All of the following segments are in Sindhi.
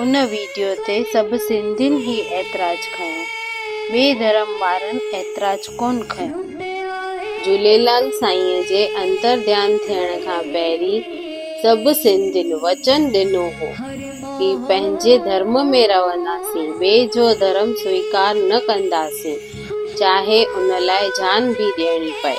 ان ويڊيو تي سڀ سنڌين ئي اعتراض کنيو ٻئي ڌرم وارن اعتراض ڪون کنيو. جهوليلال سائينء جي انترڌيان ٿيڻ کان پهرين سڀ سنڌين وچن ڏنو هو هي پنهنجي ڌرم ۾ رهنداسين ٻئي جو ڌرم سويڪار نه ڪنداسين چاهي ان لاء جان به ڏيڻي پئي.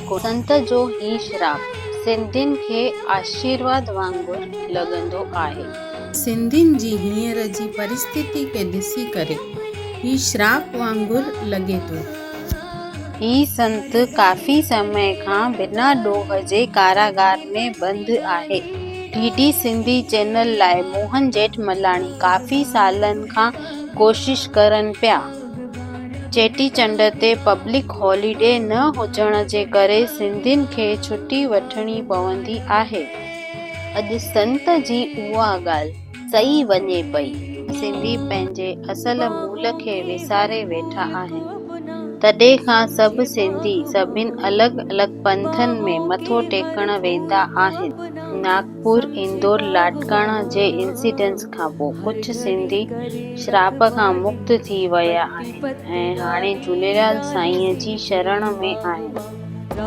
سنت جو هي شراب سنڌين کي آشيرواد وانگر لڳندو آهي. سنڌين جي هينئر جي پرستتي کي ڏسي ڪري هي شراب وانگر لڳي ٿو. هي سنت ڪافي سمي کان بنا ڏوهه جي ڪاراگار ۾ بند آهي. ڊي ڊي سنڌي چينل لاء موهن جيٺملاڻي ڪافي سالن کان ڪوشش ڪرن پيا. چيٽي چنڊ تي پبلڪ هاليڊي نه هجڻ جي ڪري سنڌين کي ڇٽي وٺڻي پوندي آهي. اڄ سنت جي اها ڳالهه سئي وڃي پئي. سنڌي پنهنجي اصل مول کي وساري ويٺا آهن. تڏهن کان سڀ سنڌي سڀين الڳ الڳ پنٿن ۾ مٿو ٽيڪڻ ويندا آهن. ناڪ. پور اندور لاڙڪاڻه جي انسيڊنٽس کان پوء ڪجهه سنڌي شراب کان مڪت ٿي ويا آهن ۽ هاڻي جهوليلال سائينء جي شرڻ ۾ آهن.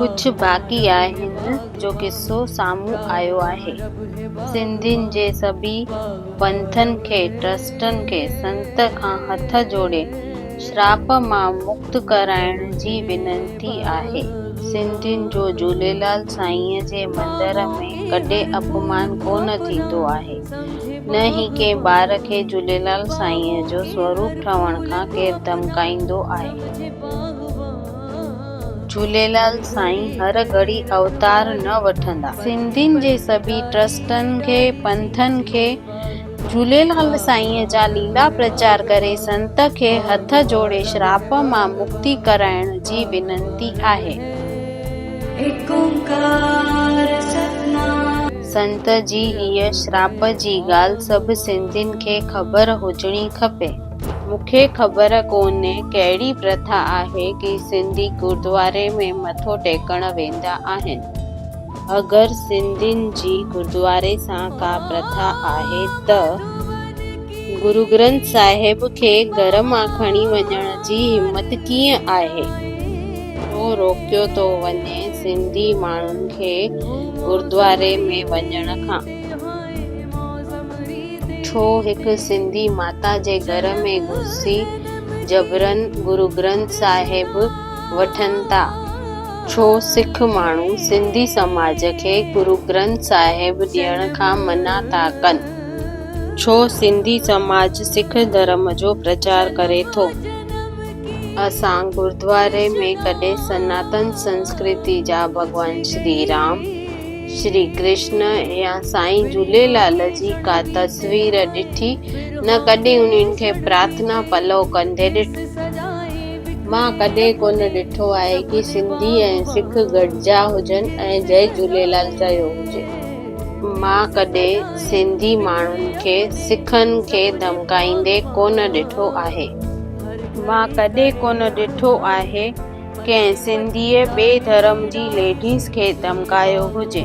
ڪجهه باقي آهن جو قصو سامهون آيو آهي. سنڌين جي سڀئي پنٿن کي، ٽرسٽن کي، سنت کان هٿ جوڙي، شراپ مان مڪت ڪرائڻ جي وينتي آهي. سنڌين جو جهوليلال سائينء جي مندر ۾ ڪڏهن اپمان ڪونه ٿيندو آهي، نه ئي ڪنهن ٻار کي جهوليلال سائينء جو سوروپ ٺهڻ کان ڪير ڌمڪائيندو آهي. جهوليلال سائين هر گهڙي اوتار نه وٺندا. سنڌين جي سڀئي ٽرسٽن کي، پنٿن کي، جهوليلال سائينء جا ليلا پرچار ڪري سنت کي هٿ جوڙي شراپ مان مڪتي ڪرائڻ جي وينتي آهي. ايڪ اونڪار ستنام. سنت جي هيء شراپ جي ڳالهه سڀ سنڌين کي خبر هجڻي کپي. مون کي خبر ڪونهي ڪهڙي پرٿا آهي ڪي سنڌي گردواري ۾ مٿو ٽيڪڻ ويندا آهن. اگر سنڌين جي گردواري سان ڪا پرٿا آهي ته گروگرنٿ صاحب کي گهر مان کڻي وڃڻ جي همت ڪيئن آهي؟ ڇو روڪيو ٿو وڃي سنڌي ماڻهن کي گردواري ۾ وڃڻ کان؟ ڇو هڪ سنڌي ماتا جي گهر ۾ گهسي جبرن گروگرنٿ صاحب وٺن ٿا؟ ڇو سک ماڻهو سنڌي سماج کي گرو گرنٿ صاحب ڏيڻ کان منع ٿا ڪن؟ ڇو سنڌي سماج سک ڌرم جو پرچار ڪري ٿو؟ اسان گردواري ۾ ڪڏهن سناتن سنسڪرتي جا ڀڳوان شري رام، شري ڪرشن يا سائين جهوليلال جي ڪا تصوير ڏٺي نه ڪڏهن انهن کي پرارٿنا پلو ڪندي ڏٺو. مان ڪڏهن ڪونه ڏٺو آهي ڪي سنڌي ۽ سک گڏجا هجن ۽ جئي جهوليلال چيو هجي. مان ڪڏهن سنڌي ماڻهن کي سکن کي ڌمڪائيندي ڪونه ڏٺو آهي. مان ڪڏهن ڪونه ڏٺو آهي ڪنهن سنڌيء ٻئي ڌرم جي ليڊيز کي ڌمڪايو هجي.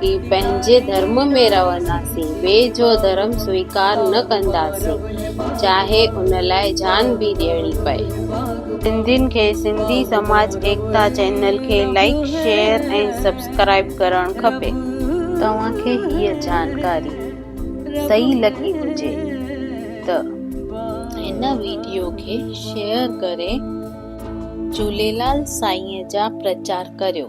ڪي پنهنجي ڌرم ۾ رهنداسين، ٻئي جو ڌرم سويڪار نه ڪنداسين، چاهي ان لاء جان به ڏيڻي پئي. سنڌين کي سنڌي سماج ايڪتا چينل کي لائيڪ شيئر ۽ سبسڪرائيب ڪرڻ کپي. توهان کي هيء جانڪاري صحيح لڳي هجي ته هن ويڊيو کي شيئر ڪري جهوليلال سائينء جا پرچار ڪريو.